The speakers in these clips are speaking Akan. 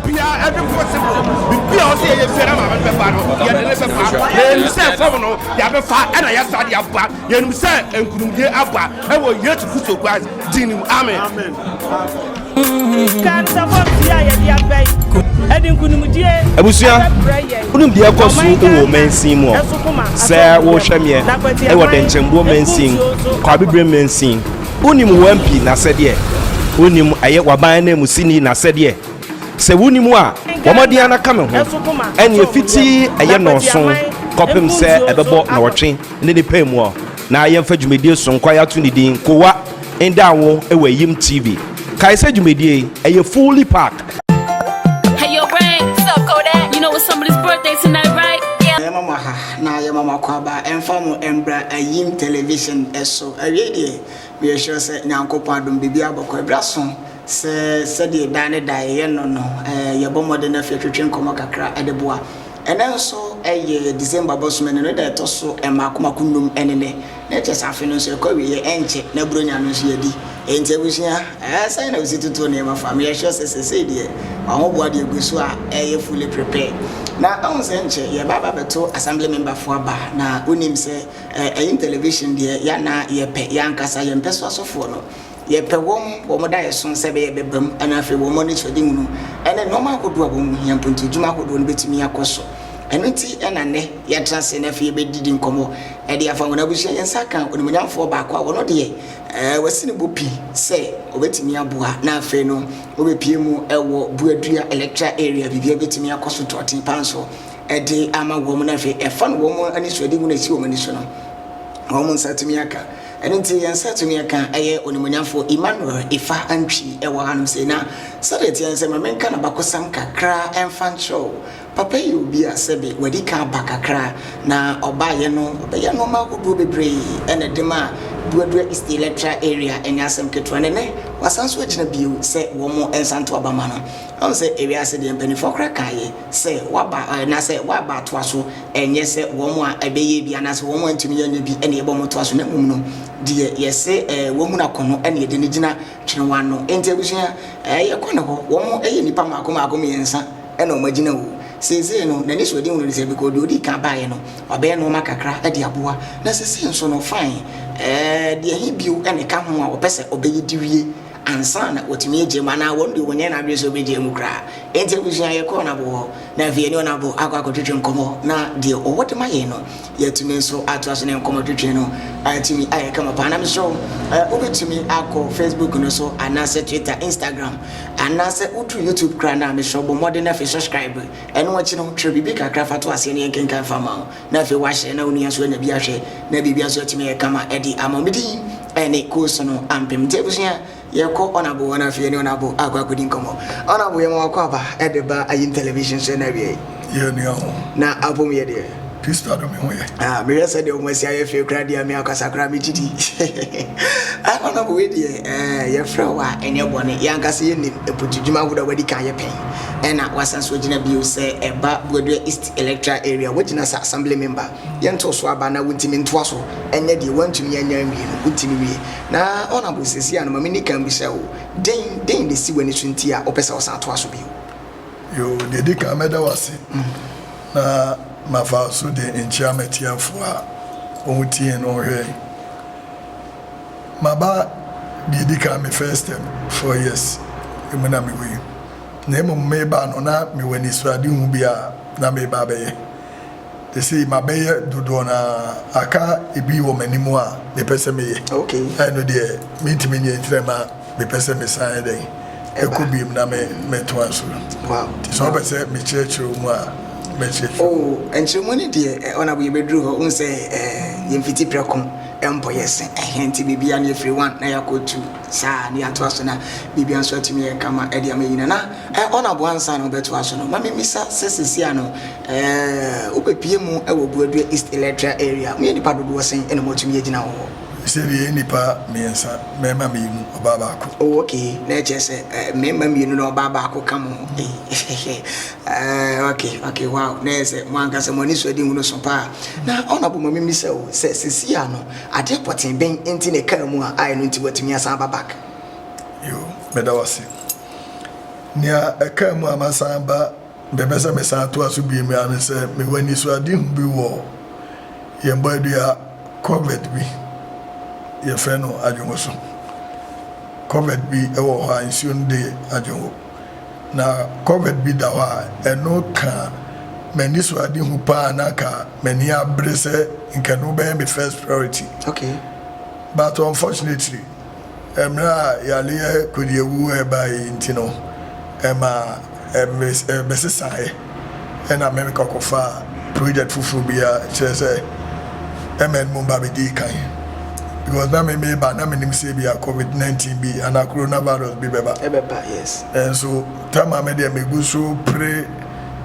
bia ɛde possible biribi a ɔsɛ yɛyɛ biara ma bɛbɛfa no yɛde ne bɛfa na yɛnim sɛ fam no yɛbɛfa ɛna yɛsa de aba yɛnim sɛ nkunimdie aba ɛwɔ yesu kristo christ din nim amen abusua wonim deɛ ɛkɔ so wɔ mansin mu ɔ sɛ wohwɛ meɛ ɛwɔ dɛnkyɛmboɔ mansin kwabeberɛ mansin Wonim wo MP n'asɛdeɛ? Wonim ɛyɛ w'aban ananmusini n'asɛdeɛ? Sɛ wonim a, bɔ mmɔden ara na ka me ho. Ɛnneɛ fiti ɛyɛ nnɔɔso kɔpem sɛ ɛbɛbɔ nnɔɔtwe ne ne pɛ mu na yɛmfa dwumadie sonkwa yi ato ne din Kowa ndaa wo wɔ Ayim TV. Kae sɛ dwumadie yi ɛyɛ fully packed. na yɛma mo akwaaba mfa mo mbra ayim television so. Awiei deɛ, meyɛ sure sɛ Nyankopɔn adom biribiara bɔkɔ abrasõ sɛ sɛdeɛ daa ne daa yɛyɛ no no. Yɛbɔ mmɔden afei atwetwe nkɔmmɔ kakra de boa. Ɛnɛ nso yɛ December bosome no ne da ɛtɔ so mmaako mmaako nnum ne nnɛ. Na kyɛ sɛ afe no nso ɛkɔ awieɛ ɛnkyɛ na Buronya no nso yɛadi. Enti abusua, ɛɛ sɛn na wosi tutu nneɛma fa? Meyɛ sure sɛ seesei deɛ w'ahoboa deɛ gu so a ɛɛyɛ fully prepare. Na ahu sɛ nkyɛ yɛɛba aba abɛto Assembly member foɔ aba, na wonim sɛ ɛɛ ɛyin television deɛ yɛn na yɛpɛ, yɛn ankasa, yɛmpɛ so asɔfoɔ no. Yɛpɛ wɔn, wɔn daeɛso sɛ ɛbɛyɛ bɛbam na afei wɔn anisoadehunu ne nnoɔma ahodoɔ a wɔn ho hia mpo nti adwuma ahodoɔ no bɛtumi akɔ so. Ɛno nti na nnɛ yɛatena ase na afei yɛbɛdidi nkɔmmɔ de afa wɔn abusua. Yɛn nsa ka onimuonyamfoɔ baako a ɔno deɛ wasi ne bo pi sɛ ɔbɛtumi aboa na afei no wɔbɛpie mu wɔ Buadua electoral area biribiara bɛtumi akɔ so tɔɔten paa nso de ama wɔn na afei ɛfa no wɔn anisoadehunu a ɛsi wɔn ani so no wɔn nsa atumi aka. Ɛno nti yɛn nsa tumi ɛka ɛyɛ onimuonyamfo Emmanuel Ifa Antwi ɛwɔ ha nom sei na sɛdeɛ ɛteɛ nsɛ ma menka nabakɔsɛm kakra ɛmfa nkyerɛ wo. Papa yi yɛ obi a sɛbe wadi kan aba kakra na ɔbaeɛ no ɔbɛyɛ nnoɔma ahodoɔ bebree ɛna ɛde maa Duadua East Electoral Area ɛnyɛ asɛm ketewa na ɛnɛ wasan nso agyina bio sɛ wɔn nsa nto aba ma no. Woahu sɛ ewiase deɛ mpaninfoɔ koraa kaeɛ sɛ waba anaasɛ waba atoa so Ɛnyɛ sɛ wɔn a ɛbɛyɛɛ bi anaasɛ wɔn a antumi anyɛ bi na yɛbɔ wɔn toa so, na mmom no, deɛ yɛse wɔmmu no akɔnnɔ na yɛde no gyina twene wɔn ano. Enti abusua, yɛ kɔ ne hɔ. Wɔn yɛ nnipa mmaako mmaako mmiɛnsa na wɔn agyina o. Seesei no, n'anisoadehunu ne sɛ, because deɛ ɔdii kan baeɛ no, wabɛyɛ nnoɔma kakra de aboa, na seesei nso no, fine, deɛ he bio na ɛka ho a ɔpɛ sɛ ɔbɛyɛ de wie? ansa na watumi agye mu anaa wɔn deɛ ɔnyɛ n'adwene sɛ ɔbɛgye mu koraa. Enti abusua yɛkɔɔ Onabo hɔ na afei yɛne Onabo akɔ akɔtwetwe nkɔmmɔ na deɛ ɔwɔ de ma yɛn no yɛatumi nso atoa so ne nkɔmmɔtwetwe no atumi ayɛ kama paa. Na mesrɛ wo wobɛtumi akɔ Facebook no so anaasɛ Twitter, Instagram anaasɛ woduru YouTube koraa no a mesrɛ wo bɔ mmɔden na afei subscribe. Ɛno akyi no twerɛ biribi kakra fa to aseɛ na yɛnkenkan fa ma wo. na afei wahyɛ na onua nso anya bi ahwɛ na biribi nso atumi ayɛ kama de ama me din ne koosu no ampem nti abusua yɛkɔ ɔnabo hɔ no afei ne ɔnabo akɔ akɔdi nkɔmmɔ ɔnabo yɛma wakɔ aba ɛde ba ayim television so na awie yɛ nua ho na apom yɛ deɛ Krista dɔ me ho yɛ ah mehwɛ sɛ deɛ ɔmo asi ayɛ fie koraa deɛ me akasa koraa megye di ɔnabo wei deɛ eh, yɛfrɛ wo a ɛnyɛ bɔne yɛankasa yɛnim mpotudwuma ahodoɔ a wadi kan yɛ pɛn ɛna wasan so agyina bio sɛ ɛba boadua east electoral area, woagyina sɛ assembly member, yɛnto wo so aba na wontumi ntoa so nyɛ deɛ woantumi anya anwie no, wotumi wie. Na Honourable, seesei ara no ma menni kan mmisa wo, dɛn, dɛn na ɛsi w'ani so nti a wopɛ sɛ wosan toa so bio? Yoo, deɛ ɛdi kan mɛda wo ase na mafa so de nkyea m'atiafoɔ a wɔtiee no hwɛe. Maba, deɛ ɛdi kan me first term, four years mu na mewɔ yi. Na mmom mebaa no na mewɔ anisoadehu bi a na mereba abɛyɛ. Seesei mabɛyɛ dodoɔ no ara, aka ebi wɔ m'anim a mepɛ sɛ meyɛ. Ɛno deɛ mentumi nyɛ nti na ɛma mepɛ sɛ mesan dɛn? Kɔ bio na metoa so. Nti sɛ wopɛ sɛ mekyerɛkyerɛ wo mu a, mɛkyerɛkyerɛ wo mu. Oh, nkyerɛmu no deɛ, Honourable yɛbɛduru hɔ. Wohu sɛ yɛn fiti prɛko mpɔ yɛ se ɛhe nti biribiara no yɛfiri one na yɛakɔ two. Saa, na yɛatoa so na biribia nso atumi ayɛ kama de ama Yina. Na eh, ɔna boa ansa na wobɛtoa so no, ma memmisa sɛ seesei ano eh, wobɛpie mu wɔ Buadua East Electoral Area, moyɛ nnipa dodoɔ sɛn na moatumi agyina wɔ hɔ? Sɛ deɛ yɛyɛ nnipa mmiɛnsa, mmarima mmienu, ɔbaa baako. Oh, ok, na ɛkyerɛ sɛ eh, mmarima mmienu na ɔbaa baako ka mo ho. Eh, ok, ok, wow, na ɛyɛ sɛ mo ankasa mo ani so adi nhunu so paa. Na ɔna bo ma memmisa o, sɛ seesei ano Adeɛ pɔtee bɛn nti na ɛkaa mu a aɛ no nti watumi asan aba back? Yoo, meda wo ase. Nea ɛkaa mu a masan aba bɛpɛ sɛ mesan toa so bio mu ara ne sɛ mewɔ anisoadehu bi wɔ yɛn bɔadua culvert bi, yɛfrɛ no Adwongo so. Culvert bi wɔ hɔ a nsuo no de Adwongo. Na kɔbɛt bi da hɔ a ɛno kaa m'anisoadehu paa na anka m'ani abere sɛ anka ɛno bɛyɛ me first priority but unfortunately mmerɛ a yareɛ kodiawu ɛbaeɛ yi nti no ɛmaa ɛbɛsesaeɛ. Ɛnna Amerika kɔfaa project foforɔ bi a kyerɛ sɛ MN mu ba bɛdii kan because na me meba a na menim sɛ ebia covid 19 bi anaa coronavirus bi bɛba. Ɛbɛba yes. Nso time a me deɛ megu so pere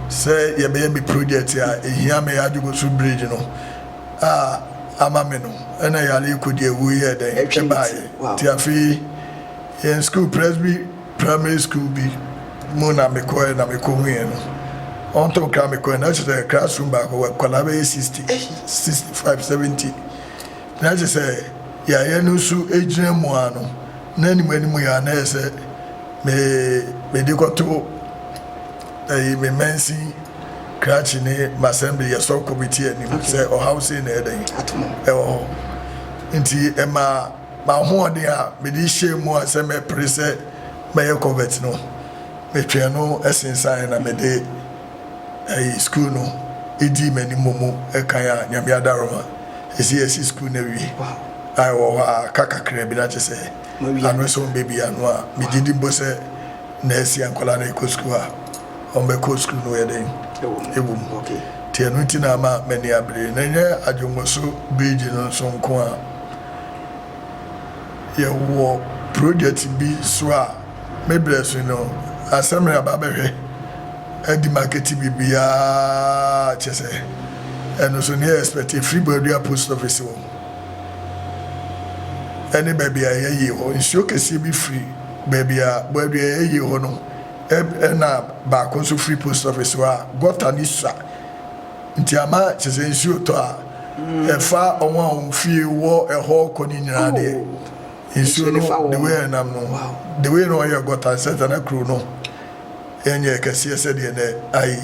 sɛ yɛbɛyɛ me project a ɛhia me Adwogosu bridge no a ama me no ɛnna yare kɔdi awu yɛɛ dɛn ɛbaeɛ nti afei yɛn school Presby Primary school bi mu na me kɔɛ na me kɔ huiɛ no ɔntɔn kra me kɔɛ na kyerɛ sɛ class room baako wɔ nkwadaa bɛyɛ sixty eii sixty five seventy na kyerɛ sɛ yayɛ no nso gyina mu aa no na anim anim yɛ a na yɛ sɛ me me de kɔto ɛyi me mansin krakye ne masɛmble yɛ sɔ kɔmiti anim sɛ ɔhaw sei na ɛdɛn ɛwɔ hɔ nti ɛma. M'ahoɔden a mede hyɛɛ mu a sɛ mɛpere sɛ mɛyɛ Corvette no, metwɛn no sensaneeɛ na mede ɛyi sukuu no dii m'anim mu kan a Nyame adaworoma ɛsɛ yɛasi sukuu no awie a ɛwɔ hɔ a aka kakraa bi na kyerɛ sɛ ano nso mbɛbie ano a megye di mpo sɛ na asi a nkwadaa no rekɔ sukuu a wɔbɛkɔ sukuu no yɛ dɛn ɛwɔ mu nti ɛno nti na ama m'ani abere na ɛnyɛ Adwonwoso bridge no nso nko a yɛwɔ project bi so a me berɛ so no asɛ me aba bɛhwɛ adi market biribiara kyɛ sɛ ɛno so ne yɛ expect ɛfiri Buadua post office hɔ ɛne baabi a ɛyɛ yie hɔ nsuo kɛseɛ bi firi baabi a Buadua ɛyɛ yie hɔ no ɛna baako nso firi post office hɔ a gɔta ne sua Nti ama kyerɛ sɛ nsuo tɔ a ɛfa wɔn a wɔn fie wɔ ɛhɔ kɔ ne nyinaa deɛ oh, nsuo no the way ɛnam no the way na ɔyɛ gɔta nsɛ sɛ na kuro no ɛnyɛ kɛseɛ sɛdeɛ na ayi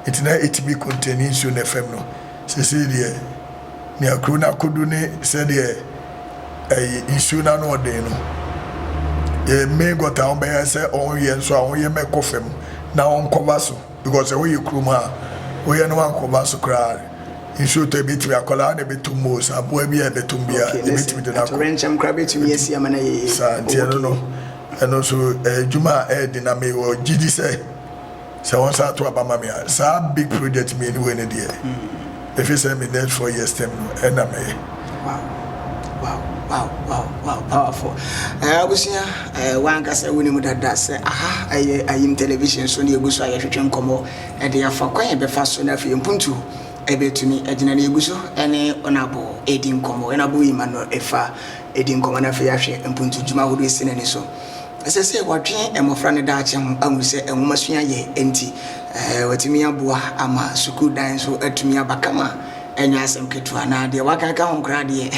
nti na ɛtumi kɔntɛni nsuo no fam no sesei deɛ nea kuro no akɔdu ne sɛdeɛ ɛyi nsuo no ano ɔden no yɛ mmee gɔta wɔn bɛyɛ sɛ wɔn yɛ nso a wɔn yɛ mɛkɔ fam na wɔn kɔba so. Because sɛ woyɛ kurom a woyɛ no wankɔ ba so koraa nsuo tɔ ebetumi akwadaa na ɛbɛtum most aboa bi a ɛbɛtum bia yɛbɛtumi de no akɔ saa nti ɛno no ɛno nso ɛyɛ adwuma a ɛyɛ den na mewɔ gyidi sɛ sɛ wɔn nsa ato aba ma me a saa big project mmienu wei no deɛ Efi sɛ me next four years term no ɛna mɛ yɛ. Wow wow wow wow wow powerful ɛɛ abusua ɛɛ eh, wankasa wuni mu dada sɛ aha ɛyɛ ayim television so ne egu so a yɛhwehwɛ nkɔmɔ ɛde afa kwan yɛ bɛfa so na afei mpuntu ɛbɛtumi ɛgyina ne egu so ɛne ɔnabɔ ɛdi nkɔmɔ ɛnabɔ yi ma no ɛfa ɛdi nkɔmɔ na afei ahwɛ mpuntu dwuma ahodoɔ esi n'ani so. Ɛsɛ sɛ wɔdwen mmofra no daakye ho ahu sɛ nwomasua yɛ nti wɔatumi aboa ama sukuu dan nso atumi aba kama ɛnyɛ asɛm ketewa na deɛ waka ka ho koraa deɛ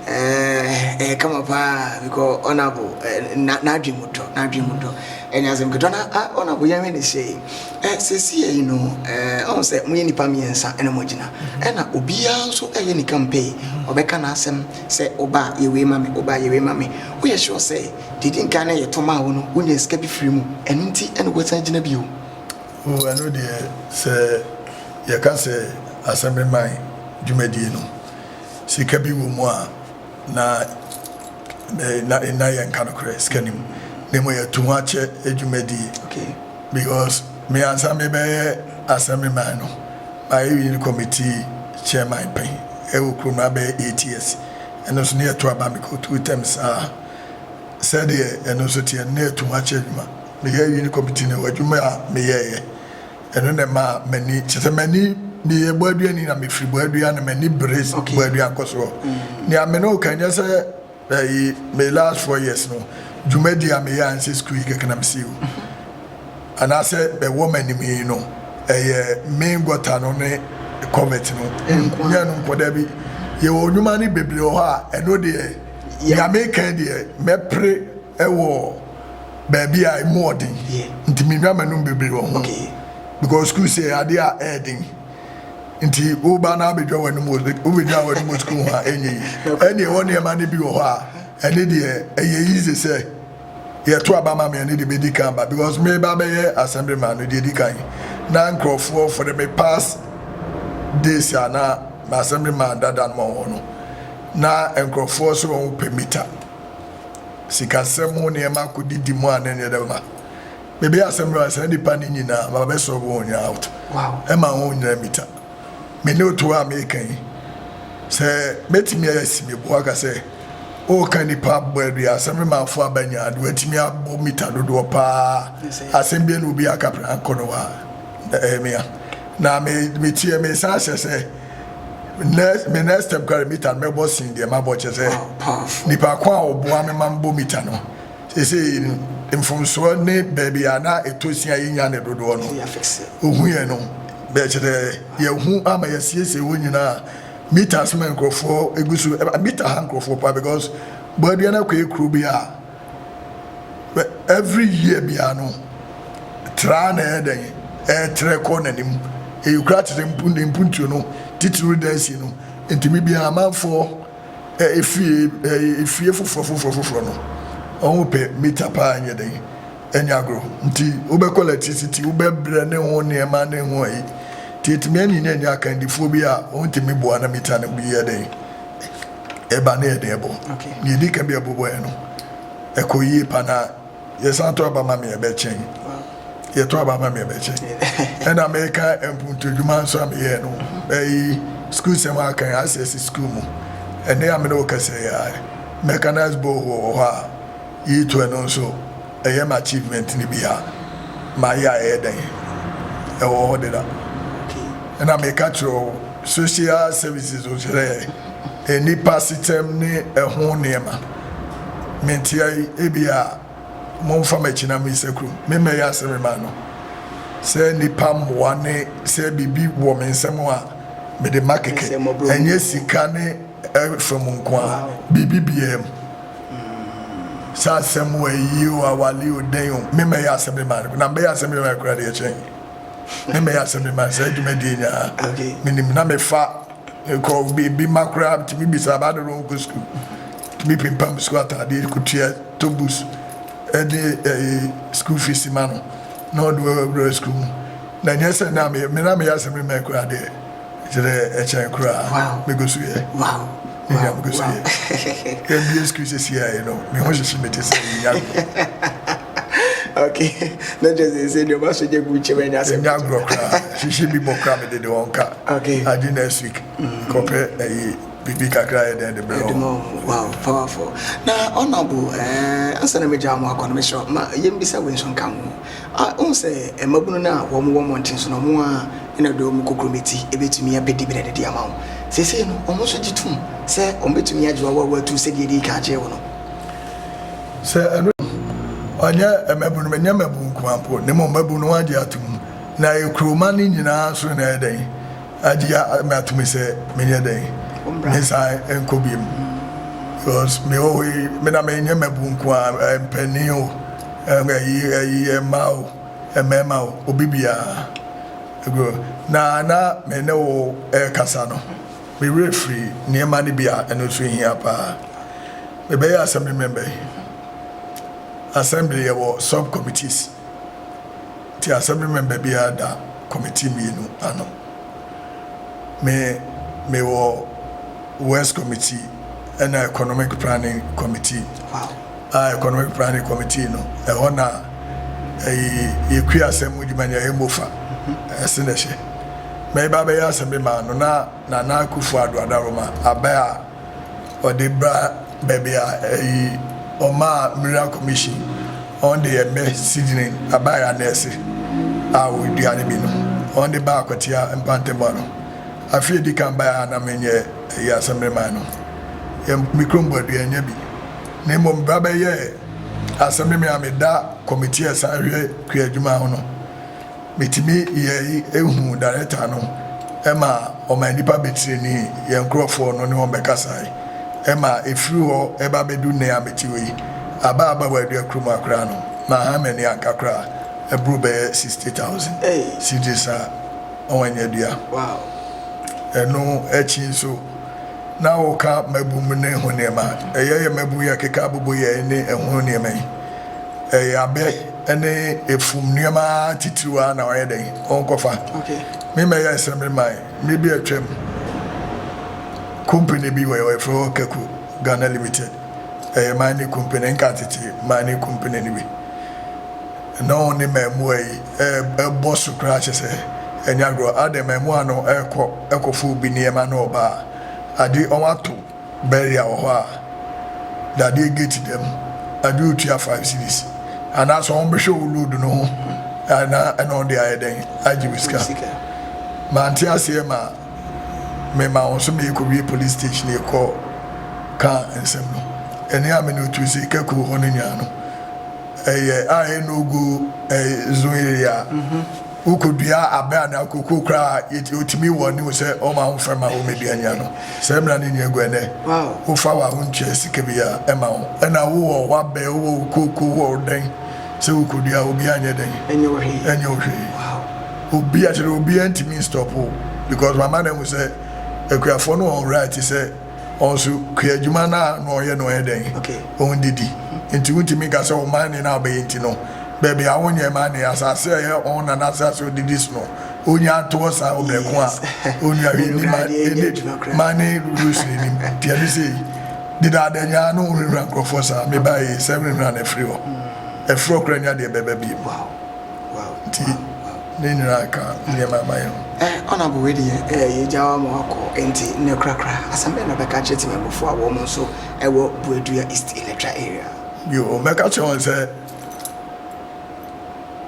ɛyɛ kama paa because ɔnabo n'adwen mu dɔ n'adwen mu dɔ ɛnyɛ asɛm ketewa na ɔnabo yɛnwe ne sei sɛsiɛ yi no ɔhu sɛ moyɛ nnipa mmiɛnsa ɛna moagyina ɛna obiara nso ɛyɛ ne campaign ɔbɛka n'asɛm Sɛ oba a yɛ wei ma me, oba a yɛ wei ma me. Woyɛ sure sɛ deɛ edi nkan no a yɛto maa wo no wonyaa sika bi firii mu, ɛno nti na woasan agyina bio? Oh, ɛno deɛ, sɛ yɛka sɛ Assembly Mine dwumadie no, sika bi wɔ mu a, na na yɛnka nokorɛ, sika nni mu. Mmom yɛato ho akyɛ dwumadie. Okay. Because. Me ansa me bɛ yɛ Assembly man no ma yɛ wiɛ no committee chairman pɛn ɛwɔ kuro mu abɛyɛ eight years ɛno nso ne yɛ to aba me kɔ two terms saa sɛ deɛ ɛno nso teɛ no ne yɛ to ho akyɛ adwuma me yɛ wiɛ no committee no adwuma a me yɛ yɛ ɛno na ɛma m'ani kyɛ sɛ m'ani me yɛ bɔ aduani na me firi bɔ adua na m'ani bere bɔ adua nkɔ soɔ nea me ne wo ka nyɛ sɛ Ɛyi me last four years no dwumadi a meyɛ ansɛ sukuu yi kɛkɛ na mesii o anaasɛ ɛwɔ m'anim yi no ɛyɛ main gɔta no ne covert no nyɛ no nkɔ da bi yɛwɔ nnwuma no bebree wɔ hɔ a ɛno deɛ nyame kan deɛ mɛpere ɛwɔ baabi a ɛmu ɔden nti menwa m'anom bebree wɔ ho because sukuu sɛ adeɛ a ɛɛden nti woba na abɛdwa w'anom wɔ wobɛdwa w'anom wɔ sukuu ho a ɛnyɛ yi ɛne ɛwɔ nneɛma no bi wɔ hɔ a ɛne deɛ ɛyɛ yize sɛ yɛto aba ma me ɛne deɛ bɛdi kan ba because me ba bɛyɛ assembly man no deɛ di kan na nkurɔfoɔ for the me past days a na ma assembly man dada no ma wɔn no na nkurɔfoɔ sɛ wɔn pɛ mita sikasɛm ho nneɛma kɔdidi mu a na ɛnyɛ dɛ ma Mebɛyɛ asɛm no a saa nnipa no nyinaa mabɛsɔ wɔn nyinaa out ma wɔn nyinaa mmita. Me ne otu a meka yi, sɛ mɛtumi asi me bo aka sɛ woka nnipa baanu yi asɛm no ma afo aba nyinaa de watumi abɔ mita dodoɔ paa asɛm bi ne obi aka prɛnko no a ɛyɛ me a. Na me metie me san hyɛ sɛ next me next step kora mita no mɛbɔ sen deɛ mabɔ kyɛ sɛ nipa ko a ɔboa me ma mbɔ mita no Seesei no, mfomsoɔ ne baabi a na ɛtɔ sin a yɛnnya no dodoɔ no, ɔhu yɛn no. Bɛ, kyerɛ, yɛahu ama yɛasiesie hɔ nyinaa. Mita so ma nkurɔfoɔ gu so, ɛma mita ha nkurɔfoɔ paa because bɔa biara no akɔyɛ kuro bi a, bɛ, every year biara no, tra ara na ɛyɛ dɛn, ɛretrɛ kɔ n'anim. Ɛyɛ kuro atete, mpo, ne mpuntuo no, titiriw Dɛɛsi no. Enti me biara amanfoɔ Efie efie foforɔ foforɔ foforɔ no, ɔho pɛ mita paa nyɛ dɛn ɛnyɛ agorɔ nti wobɛkɔ lɛktisiti wobɛbrɛ ne ho nneɛma ne ho ayi nti ɛtumi ani na ɛnyɛ akandifoɔ bi a wɔntumi boa na mita no bi yɛ dɛn ɛba ne yɛde ɛbɔ deɛ ɛdi ka bi a ɛbobɔɛ no ɛkɔ yie pa na Yɛ san tɔ aba ma me ɛbɛkyen. Yɛ tɔ aba ma me ɛbɛkyen. Ɛna me ka mpuntu dwuma nso a me yɛɛ no ɛyi school sɛm a kan access school mu ɛnɛ a me ne wo kɛsɛ yɛ a mechanized borehole wɔ hɔ a yi to ɛno nso ɛyɛ ma achievement no bi a ma yɛ a ɛyɛ dɛn ɛwɔ hɔ deda ɛna me ka kyerɛ wo. Social Services nso yɛ nnipa asetɛm ne ɛho nneɛma. Me nte ha yi, ebia momfa m'akyi na monyɛ sɛ kurom. Me mmɛyɛ asɛm mma ano. Sɛ nnipa mmoa ne sɛ biribi wɔ me nsam a mede ma kɛkɛ. Ɛnyɛ sika ne ɛfa mu nko ara, biribi biara mu. Sɛ asɛm o, ayi o, awale o, dɛn o, me mmɛyɛ asɛm mma ano. Na mebɛyɛ asɛm mma ano koraa de, ɛkyɛn. Me mmɛyɛ asɛm de ma saa dwumadie yi nyinaa. Menim na mefa kɔ biribi ma koraa tumi bisa ba dodoɔ nkɔ sukuu. Tumi pimpam sukuu ataadeɛ kɔtua tɔ bus de ɛyi sukuu fees ma no na ɔde wura sukuu mu. Na nyɛ sɛ na meyɛ me na meyɛ asɛm de ma koraa deɛ. Ɛkyerɛ ɛkyɛn koraa mɛkɔ sukuu ɛ me nua mɛkɔ sukuu ɛ yɛ bie sukuu sɛsi a yi no me ho hyehye me te sɛ yi ya okay na kyerɛ sɛ sɛ deɛ ɔba so gye gu kyɛm ɛnyɛ asɛm ɛnyɛ agorɔ koraa hyehye bi bɔ koraa mede de wɔn ka okay adi next week mm. kɔpɛ ɛyi biribi kakra yɛ dɛn de bɛrɛ wɔn wow powerful na honorable ɛɛ eh, ansa na megya wɔn akɔ no mehyɛ ma yɛmbisa wei nso nka ho A Wohu sɛ mmabunu no a wɔwɔ mmɔnten so no, wɔn ara na wɔde wɔn kokurobɛ ti betumi abedi brɛde de ama wo. Seesei no, wɔn nso gye tom sɛ wɔbetumi agye w'awawa atu sɛdeɛ edii kan gyee wo no. Sɛ ɛno nti, wɔnyɛ mmabunu, menyɛ mmabunu nko ara mpo, na mmom mmabunu no wɔagye atom, na ɛyɛ kurowman no nyinaa nso na ɛyɛ dɛn? Agye me ato mu sɛ menyɛ dɛn mensan nkɔ biom because mewɔ hɔ yi me na menyɛ mabu nko a mpanin o ɛyi ɛyi mmaa o mmarima o obi biara ego na na me ne wo ɛkasa no me werɛ firi nneɛma no bi a ɛno nso hia paa mebɛyɛ assembly member yi assembly yɛwɔ sub committees. Te Assembly Member biara da Committee mmienu ano. Me, mewɔ Works Committee ɛna Economic Planning Committee. A Economic Planning Committee no, ɛhɔ na ɛyi yɛkue asɛm mu dwuma nea ɛmmɔ fa, ɛse na ɛhyɛ. Mɛba abɛyɛ Assembly man no na Nana Akufo-Addo Adaroma abɛ a, ɔde bra baabi a ɛyi ɔmaa Mura Commission wɔn de yɛ mɛ seedling abae anɛɛse a wɔdua no bi no wɔn de baa Kwatia mpantɛm ano afe edi kan bae a na menyɛ ɛyi asɛmreman no yɛ me kurom bɔadua nya bi na mmom bra bɛyɛ asɛmreman a meda kɔmitia ɛsan hwɛ kua adwuma ho no Metumi yɛ yi ehu darekta no ma ɔma nnipa betirinii, yɛn nkorɔfoɔ no ne wɔn bɛkasae, ɛma efiri hɔ ɛba bɛdu nnɛ a mete hɔ yi, aba aba wɔ adua kuro mu ha koraa no, maha m'ani anka koraa, ɛboro bɛyɛ sixty thousand cedis a wɔanya adua. Ɛno akyi nso, na wɔka mmabu mu ne ho nneɛma, ɛyɛ yɛn mmabu yi ɛkeka abobo yɛn ne ɛho nneɛma yi, ɛyɛ abɛ. ne efum nneɛma atitiriw ara na ɔyɛ dɛn ɔnkɔfa. Me mmɛyɛ nsɛm de mae. Mmere bi a atwam, kompene bi wɔ hɔ a wɔfrɛ hɔ Kaku Ghana Limited. Ɛyɛ mining kompene, nka tete mining kompene no bi. Na wɔn ne mmaamua yi ɛbɔ so koraa kyɛ sɛ ɛnyɛ agorɔ. Adɛn, mmaamua no kɔ kɔfa obi nneɛma na ɔba a, ade wɔato Beria wɔ hɔ a, dadeɛ gate dɛm, ɛde otua five cedis, anaa sɛ wɔn bɛhwɛ wo load no ho a na ɛna wɔn de ayɛ dɛn agye wo sika. Mante aseɛ ma me ma wɔn so meyɛ kɔwie police station yɛ kɔ ka nsɛm no. Ɛne a me ne otu se ka kuo hɔ no nyinaa no ɛyɛ a ɛyɛ no go ɛyɛ zone area. Wokodua abɛ anaa cocoa koraa a, yɛt wotumi wɔ ne wo sɛ wɔn a wɔfrɛ ma wɔmmɛdua nya no. Saa mmara no nni agu ɛnnɛ. Wofa wɔ a wontua sika bi a, ɛma wo. Ɛna wowɔ w'abɛ, wowɔ wo cocoa, wowɔ wo dɛn, sɛ wokodua a obiara nyɛ dɛn? Ɛnyɛ wo hwee. Ɛnyɛ wo hwee. Obia kyerɛ obiara ntumi nstop wo because wama no ahu sɛ akuafoɔ no wɔ wo right sɛ. Wɔn nso kuadwuma no a na wɔyɛ no yɛ dɛn? Wɔn didi. Nti wontumi nka sɛ wɔn manne no a wɔbɛyɛ nti no, baabi a wɔnyɛ manne, asase a ɛyɛ wɔn nana asase a wɔdidi so no, wɔnya nto hɔ saa ɔbrɛko a ɔnwia hwee nni manne manne rules no anim. Nti ɛne sɛ yi, dedaada nyaa no honhura nkurɔfoɔ saa, mebaeɛ yi, sɛ honhura no afiri hɔ. Afiri hɔ koraa nnya deɛ ɛbɛba bio. Nti ne nyina ka nneɛma a mayɛ ho. Eh Honourable wei deɛ eh yɛgya wo ama wakɔ nti nnɛ korakora asɛm bɛn na wobɛka akyerɛ Temamufoɔ a wɔn nso wɔ Buadua East Electoral Area? Bio, mɛka akyerɛ wɔn sɛ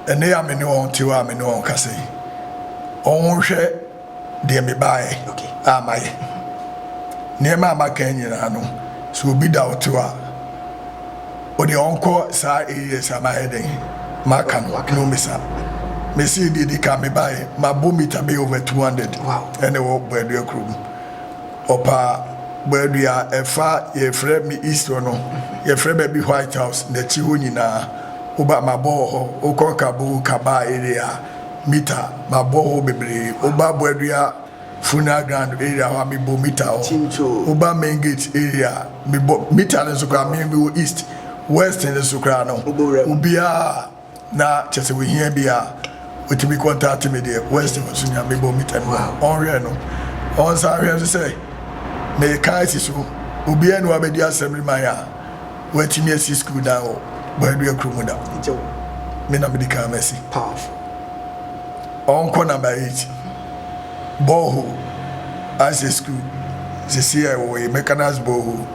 ɛnnɛ yi a me ne wɔn te hɔ a me ne wɔn kasa yi wɔn hwɛ. deɛ mebaeɛ a mayɛ. Nneɛma a maka yi nyinaa no, sɛ obi da wo to a, wo deɛ ɔnkɔ saa AES a mayɛ dɛn, maka no na ɔmmisa. Mese deɛ di kan mebaeɛ, mabɔ mita bɛyɛ over 200 ɛna ɛwɔ Boadua kurom. Ɔpa Boadua ɛfa yɛfrɛ me east hɔ no, yɛfrɛ baabi White House, n'akyi hɔ nyinaa. Woba mabɔ wɔ hɔ, wokɔ Kaboul, Kabaa area a, mita ma bɔ hɔ bebree wo ba boadua funeral ground area hɔ a me bɔ mita hɔ wo ba main gate area me bɔ mita no nso koraa me me wɔ east west no nso koraa no obiara na kyɛ sɛ ohia bi a otumi contact me deɛ west hɔ nso nua me bɔ mita no ɔnhwɛ no ɔnsan hwɛ nso sɛ me ka asi so obiara ni wa bɛdi asɛm de man a Woatumi asi sukuu dan wɔ Boadua kuro mu da? Me na mede kan masi. Ɔnkɔ number eight borehole asɛ sukuu sesie a ɛwɔ yi Mechanized borehole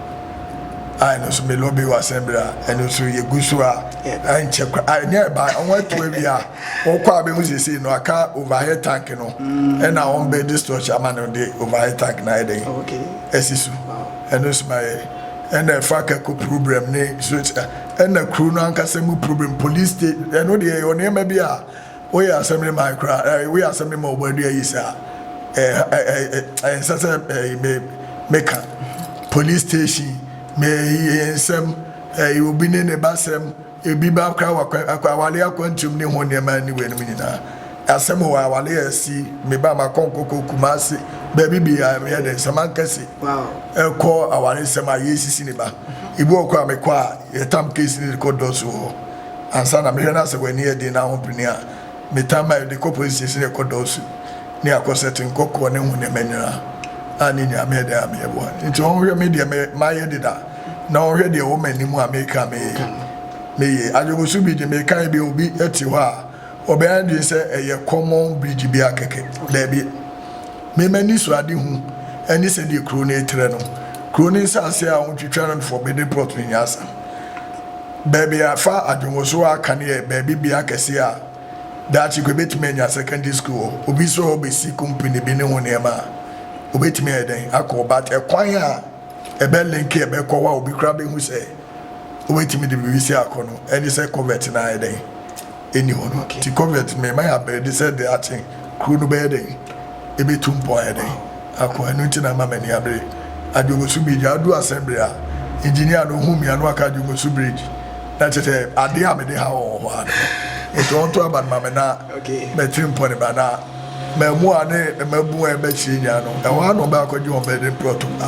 a ɛno nso me lobby wɔ asɛmbere a ɛno nso yɛgu so a ɛnkyɛ kora a ɛne ɛba wɔn atu awie a wɔkɔ a bɛhu sesie no aka overhead tank no ɛna wɔn bɛ de structure ama no de overhead tank no ayɛ dɛn asi so. Ɛno so ma yɛ ɛna ɛfa kɛko problem ne zot ɛna kuro no ankasa mu problem police te ɛno deɛ ɛyɛ ɔnneɛma bi a woyɛ asɛm ne man koraa ɛɛ woyɛ asɛm ne ma ɔbɔ adua yi saa ɛɛ ɛɛ ɛɛ nsɛ sɛ ɛɛ me meka police station me ɛɛ nsɛm ɛɛ obi ne ne ba sɛm Ebi ba koraa wɔ akwa awale akwantum ne ho nneɛma ne weinom nyinaa. Asɛm wɔ awale a asi, me ba makɔ nkɔkɔ Kumasi, baabi biara meyɛ dɛn sɛ mankɛse ɛkɔ awaresɛm a yɛresisi ne ba. Ebi wɔ kɔ a mekɔ a yɛtam case no de kɔ dɔs wɔ hɔ ansa na mehwɛ no a sɛ w'ani yɛ den na ahopene a metam ma yɛde kɔ police station na ɛkɔ dɔs ne akɔ settle nkɔkɔ ne ho nneɛma nyinaa a ne nyinaa meyɛ dɛn a meyɛ boa no nti wɔn hwɛ me deɛ mayɛ deda. na ɔhwɛ deɛ ɛwɔ m'anim a meka me meye. Adwoboso bi de, meka yi bi obi te hɔ a, ɔbɛyɛ adwene sɛ ɛyɛ common bridge bi a kɛkɛ. Daabi. Me m'ani so ade hu ɛne sɛdeɛ kuro no retrɛ no. Kuro no nsase a wɔtwitwa no for building plot no nyɛ asɛm. Baabi a fa adwoboso a aka no yɛ baabi bea kɛseɛ a daakye kɔ ɛbɛtumi anya secondary school wɔ. Obi sɛ ɔbɛsi company bi ne ho nneɛma a, ɔbɛtumi ayɛ dɛn akɔ hɔ. But ɛkwan a. Ɛbɛ link a ɛbɛ kɔ hɔ a obi koraa bɛ hu sɛ wobɛtumi de biribi si akɔ no ɛne sɛ covert no ayɛ dɛn ɛni hɔ no nti covert me ma yɛ abɛɛde sɛ de akye kuro no bɛyɛ dɛn ɛbɛ tu mpɔ ayɛ dɛn akɔ ɛno nti na ama mani abere Adwogosu bridge adu asɛn bere a engineer no hu mia no waka Adwogosu bridge na kyɛ sɛ adeɛ a mede ha wɔ hɔ a no nti ɔnto aba no ma me na mɛtiri mpɔ ne ba na Mmaamua ne mmabun a ɛbɛkyerɛ nyinaa no, ɛhɔ ara na wɔbɛakɔgye wɔn bɛde mprɔto a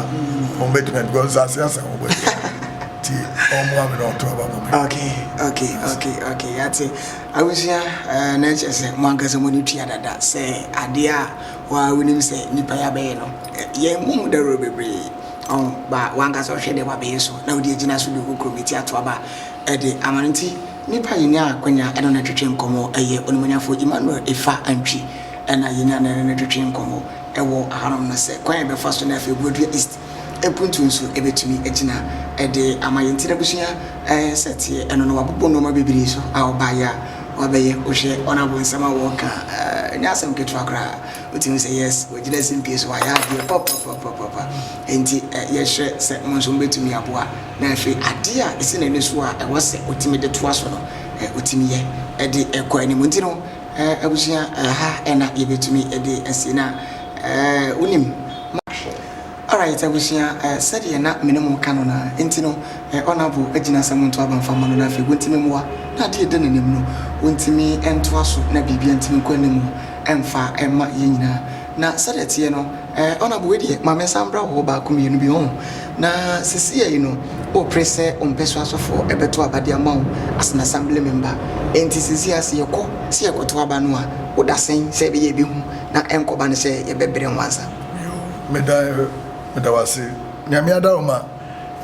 wɔbɛtumi adi because nsase asa wɔn bɔ nti wɔn ame na wɔto aba wɔn bɛ. Okay, okay, okay, okay, yɛate. Abusua, eh, na ɛkyɛ sɛ mo ankasa mo ne tua dada sɛ adeɛ a wɔa wonim sɛ nipa yɛ abɛyɛ no, yɛn mu ho dawuro bebree. Ɔn, ba wankasa ɔhwɛ deɛ wabɛyɛ so na wode agyina so de wo kurom ati ato aba ɛde ama no nti, Nipa yɛnyaa akwanya ɛne no twetwe nkɔmmɔ ɛyɛ Onimuonyamfoɔ Emmanuel Efa Antwi ɛna yɛnyaa no ɛne no twetwe nkɔmmɔ ɛwɔ ahanom no sɛ kwan a yɛbɛfa so na afei Buadua East ɛpuntuo nso ɛbɛtumi agyina ɛde ama yɛn nti n'abusua ɛsɛ teɛ ɛno no wabobɔ nnoɔma bebree so a ɔbaeɛ a wabɛyɛ wohwɛ Honourable nsɛm a ɔɔka a ɛnyɛ asɛm ketewa koraa. Wotumi sɛ yes, wɔagyina simpie so, wɔayɛ adeɛ papapapapa. Enti yɛhwɛ sɛ mo nso mobɛtumi aboa. Na afei adeɛ a ɛsi n'ani so a ɛwɔ sɛ ɔtumi de toa so no, ɔtumi yɛ de kɔ anim. Nti no, abusua, ha na yɛbɛtumi de asie. Na wonim, mo. Alright abusua eh sɛdeɛ na mene mo ka no no a nti no eh Honourable agyina sɛ monto aba mfa ma no na afei wontimi mmoa na adeɛ ɛda nanim no wontimi ntoa so na biribia ntimi nkɔ anim mfa mma yɛn nyinaa na sɛdeɛ ɛteɛ no eh Honourable wei deɛ ma mensan mbra wo hɔ baako mmienu bi ho na sesei no wopere sɛ wo mpɛsoasofoɔ ɛbɛto aba de ama wo as an Assembly Member ɛnti sesei a sɛ yɛkɔ sɛ yɛkɔto aba no a woda sɛn sɛ ɛbɛyɛ ɛbɛhu na ɛnkɔba no sɛ yɛbɛbrɛ nwansa? Yo, meda meda wo ase. Nyame ada wo ma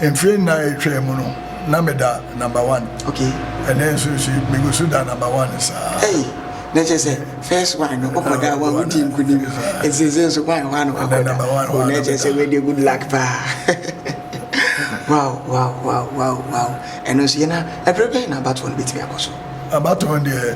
mfie nnan a etwaa mu no na meda number one. Okay. Ɛnɛ nso nso megu so da number one saa. Ei, na kyerɛ sɛ first one no ɔkɔ da wa wodi nkunim. Nsese nso one one wa kɔ da. O na kyerɛ sɛ wei deɛ good luck paa. Wow wow wow wow wow. Ɛno nso yɛ na ɛbere bɛn na abatoɔ no bɛtumi akɔ so? Abatoɔ no deɛ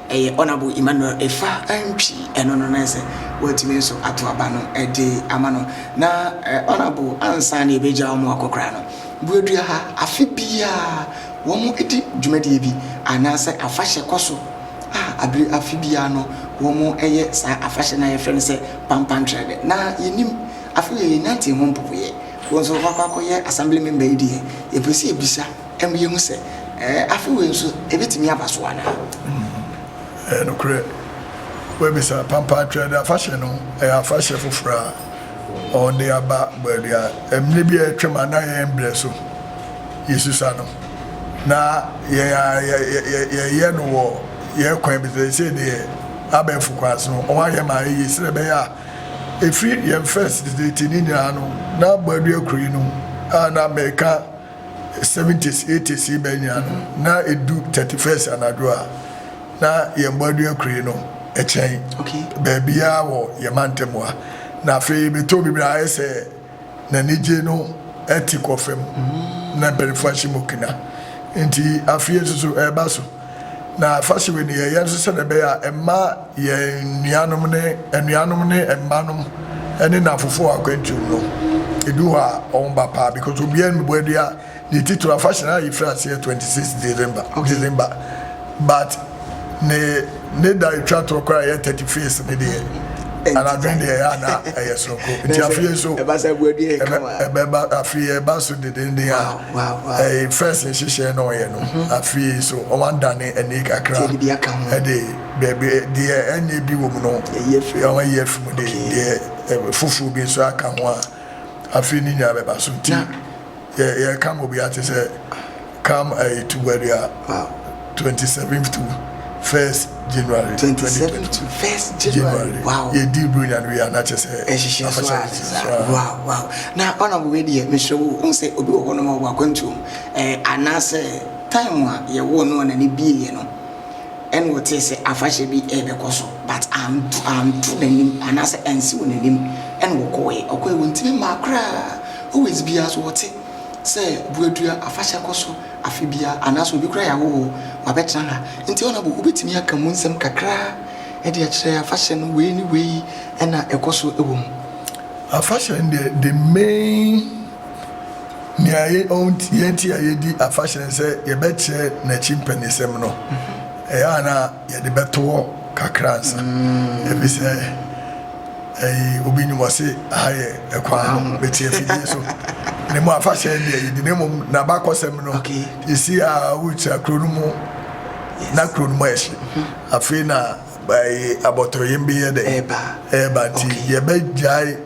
Ɛyɛ Honourable Emmanuel Efa Antwi ɛno no na ɛsɛ watumi nso ato aba no de ama no na Honourable ansa na yɛbɛgya wɔn akɔ koraa no Buadua ha afe biara wɔn di dwumadie bi anaasɛ afahyɛ kɔ so a abere afe biara no wɔn yɛ saa afahyɛ no a yɛfrɛ no sɛ Pampantrɛɛdɛ na yɛnim afe wei yɛnantee ho mpopoeɛ wɔn nso wɔakɔ akɔyɛ Assembly member yi deɛ yɛpɛ sɛ yɛbisa Ɛma yehu sɛ, ɛɛ, afe wei nso ebetumi aba so anaa? Ɛyɛ nokorɛ. Wobɛbisa, Pampa Atwerɛdeɛ Afahyɛ no yɛ afahyɛ foforɔ a wɔde aba baabi a mmerɛ bi a atwam a na yɛn berɛ so yɛsusa no, na yɛn a yɛyɛ no wɔ yɛn kwan bi so. Seesei deɛ abɛɛfo kwan so no, wɔayɛ ma eye sɛdeɛ ɛbɛyɛ a ɛfiri yɛn first date no nyinaa no, na Bɔadua Kuro yi no a na mereka Seventies, eighties yi bɛ nyina no, na edu thirty first anadwo a, na yɛn bɔadua kure no kyɛn baabiara wɔ yɛn mantam ha. Na afei bɛtɔ biribi a, ayɛ sɛ n'anigye no te kɔ fam, na mpanimfoɔ ahyɛ mu kena. Enti afei nso so ɛreba so. Na afahyɛ wei no, yɛyɛ nso sɛdeɛ ɛbɛyɛ a ɛmma yɛn nuanom ne anuanom ne mmanom ne nnamfofoɔ wɔ akwantuom no, ɛdu hɔ a wɔba paa because obiara mmɛbɔ adua ne titire. Afahyɛ no a yɛfiri aseɛ 26 December, December but ne ne da ɛtwa toɔ koraa ɛyɛ 31st ne deɛ anadwene deɛ ɛyɛ ana ɛyɛ soronko nti afei nso ɛbɛba afei ɛba so dedenden a Ɛyɛ first nhyehyɛɛ na ɔyɛ no afei nso ɔadane ani kakra de baabi deɛ ɛnyɛ bi wɔ mu no ɔayi afiri mu de deɛ foforɔ bi nso aka ho a afei ne nyinaa bɛba so nti yɛka ma obiara te sɛ come ɛyɛ tuba dua. twenty seven to first January twenty twenty two first January wow yɛ di bronya no yɛ anakyɛ sɛ ɛhyehyɛ so a ne sa wow wow na ɔna bɔ wei deɛ mesrɛ wo ɔhu sɛ obi wɔ hɔ no ma wɔ akwantuom ɛɛ anaasɛ time a yɛwɔ no ɔna ne bieɛ no ɛna ɔtee sɛ afahyɛ bi ɛbɛkɔ so but anto anto n'anim anaasɛ ansi wɔ n'anim ɛna ɔkɔɔɛ ɔkɔɔɛ wɔntimi maa koraa always biara so wɔte sɛ buadua afahyɛ kɔ so afe biara anaasɛ obi koraa yɛ ahɔho o, wabɛtena ha. Enti honourable, wobɛtumi aka mu nsɛm kakra de akyerɛ afahyɛ no, wei ne wei na ɛkɔ so wɔ mu? Afahyɛ no deɛ, the main nea yɛn ti a yɛdi afahyɛ no sɛ yɛbɛkyerɛ n'akyi mpanisɛm no, ɛyɛ a na yɛde bɛto hɔ kakra ansa, ɛfiri sɛ. Eii obi nnim ɔse aha yɛ ɛkwan no mete afidie so ne mu afahyɛ ɛnde ayi ne ne mom na bakɔsɛm no yɛsi a wokyira kuro no mu na kuro no mu ayɛ hye afei na ɛyi abɔtɔyem bi yɛ dɛ ɛɛba nti yɛbɛ gyae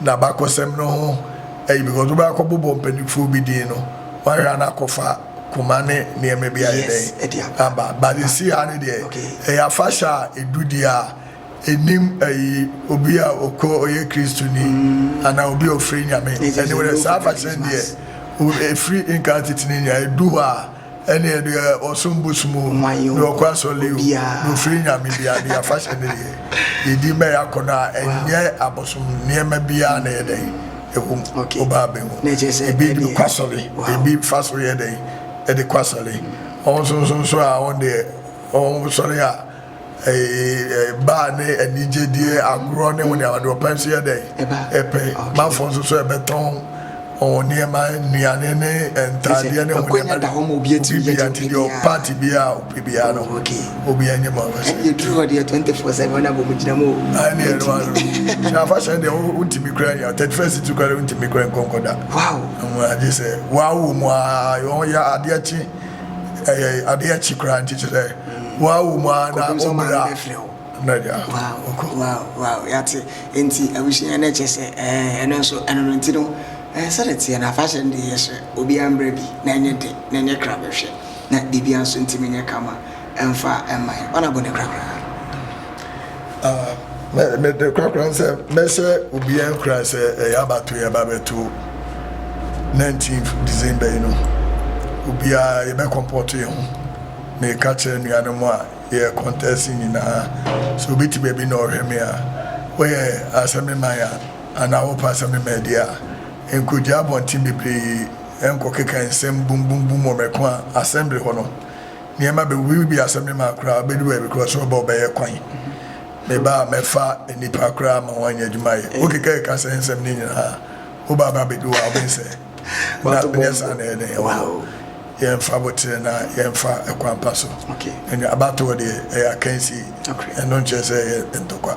na bakɔsɛm no ho ɛyi because wobɛ akɔ bobɔ mpanifoɔ bi din no wahwɛ ana akɔfa koma ne nneɛma bi ayɛ dɛ aba but yɛsi a ne deɛ ɛyɛ afahyɛ a ɛdudie a Nnim ayi obi a ɔkɔ ɔyɛ Kristoni anaa obi a ɔfiri Nyame. Ɛne wo dɛ saa afahyɛ no deɛ o ɛfiri nkaa tete no nyinaa ɛdu hɔ a ɛne ɛdeɛ ɔsom bosom o deɛ ɔkɔ asɔle o deɛ ɔfiri Nyame biara deɛ afahyɛ no deɛ yɛdi ma yɛ akɔnɔ a ɛnyɛ abosom nneɛma biara na ɛyɛ dɛn ɛwɔ mu ɔbaa bɛ mu ɛbi de kɔ asɔle ɛbi fa so yɛ dɛn ɛde kɔ asɔle ɔnsonso nso a ɔn deɛ ɔnsɔre a Ɛba a ne anigye die agorɔ ne ho nea ɔde ɔpɛ nso yɛ dɛn? Ɛpɛ. Mafo nso so ɛbɛtɔn wɔn nneɛma, nnuane ne ntaadeɛ ne ho nneɛma de obi bia nti deɛ ɔpa te bia a ɔpɛ bia no obi ɛnyɛ ma ɔbɛsɛ. Ɛne ɛduru hɔ deɛ 24 sɛ wɔn abɔ mu gyina mu o. Ɛne ɛno ano. Sɛ afa sɛ deɛ wontumi kura nyɛ 31st to kura wontumi kura nkɔnkɔ da. Wow. Agye sɛ wɔawo mu a wɔn yɛ adeɛ kye. ɛyɛ ade akyi koraa nti kyerɛ sɛ wɔawo mu ara na ɔbrɛ a nanya ɔkɔ. yɛate nti abusua no kyɛ sɛ ɛno nso ɛno no nti no sɛde teɛ no afahyɛ no deɛ yɛhyɛ obiara mbrɛ bi na ɛnyɛ de na ɛnyɛ kra bɛhwɛ na biribia nso ntumi nyɛ kama Ɛmfa mmae. Ɔna bɔ ne korakoraa. Na me de korakoraa sɛ mɛhyɛ obiara nkura sɛ ɛyɛ abato yɛ ba bɛto 19th December yi no obiara yɛbɛ kɔmpɔto yɛn ho na ɛka kyerɛ nuanom a yɛ kɔntɛsi nyinaa sɛ obi te baabi na ɔhwɛ me a wɔyɛ asɛme man a anaa wɔpɛ asɛme man deɛ a nkɔgya abɔnten bebree nkɔkeka nsɛm bumbumbum wɔ mɛko a asɛmbere hɔ no Nneɛma bɛwuwu bi asɛm no ma koraa bɛdu baabi koraa sɛ ɔba ɔbɛyɛ kwan me ba a mɛfa nnipa koraa ma wɔanya adwuma yɛ wokekakeka sɛ nsɛm no nyinaa woba aba bɛdu hɔ a wobɛhu sɛ na nyɛ saa na ɛne ɛwɔ yɛmfa botere na yɛmfa ɛkwan pa so abatoɔ deɛ ɛyɛ akansie ɛno nkyerɛ sɛ ɛyɛ ntɔkwa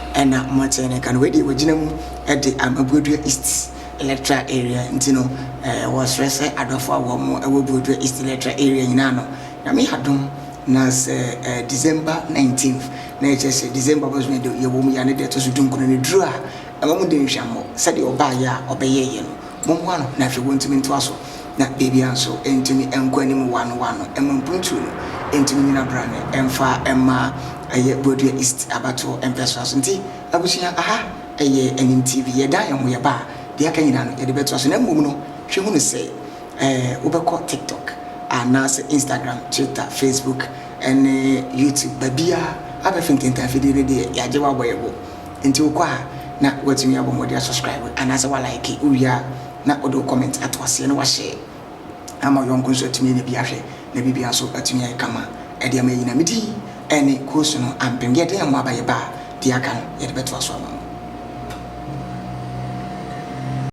Ɛna motee ne nka no, wei deɛ wɔgyina mu de ama Buadua East Electoral Area nti no, wɔsrɛ sɛ adɔfoɔ a wɔn wɔ Buadua East Electoral Area nyinaa no, Nyame yɛ adom na sɛ December nineteenth, na ɛkyerɛ sɛ December bosome deɛ yɛwɔ mu yi a ne da ɛtɔ so dunkono no duru a, mma mo dɛ nhwammɔ, sɛdeɛ ɔbaeɛ a ɔbɛyɛeɛ no, mommoa no na afei wɔntumi ntoa so. na ebia nso entumi nkɔ anim one one mma mpuntuo no ntumi nyina brane mfa mma ɛyɛ Buadua East abatoɔ mpɛsoa so. Nti abusua, aha ɛyɛ Anyim TV, yɛdan yɛn ho yɛba a, deɛ aka nyinaa no yɛde bɛtoa so na mmom no hwɛ hunu sɛ ɛɛ wobɛkɔ TikTok anaasɛ Instagram, Twitter, Facebook ɛne YouTube babiara abɛfe ntentan afidie no deɛ yɛagye wabɔ yɛbo nti wokɔ a na watumi abɔ mmɔden asubscribe anaasɛ wa like wowie a Na ɔde wo comment ato aseɛ na wahyɛɛ ama wo yɔnko nso atumi anya bi ahwɛ na biribiara nso atumi ayɛ kama ɛde ama yɛnyina. Me din ɛne Koosu no ampem. Deɛ ɛdɛn mu aba yɛba a deɛ aka no yɛde bɛtoa so ama mo.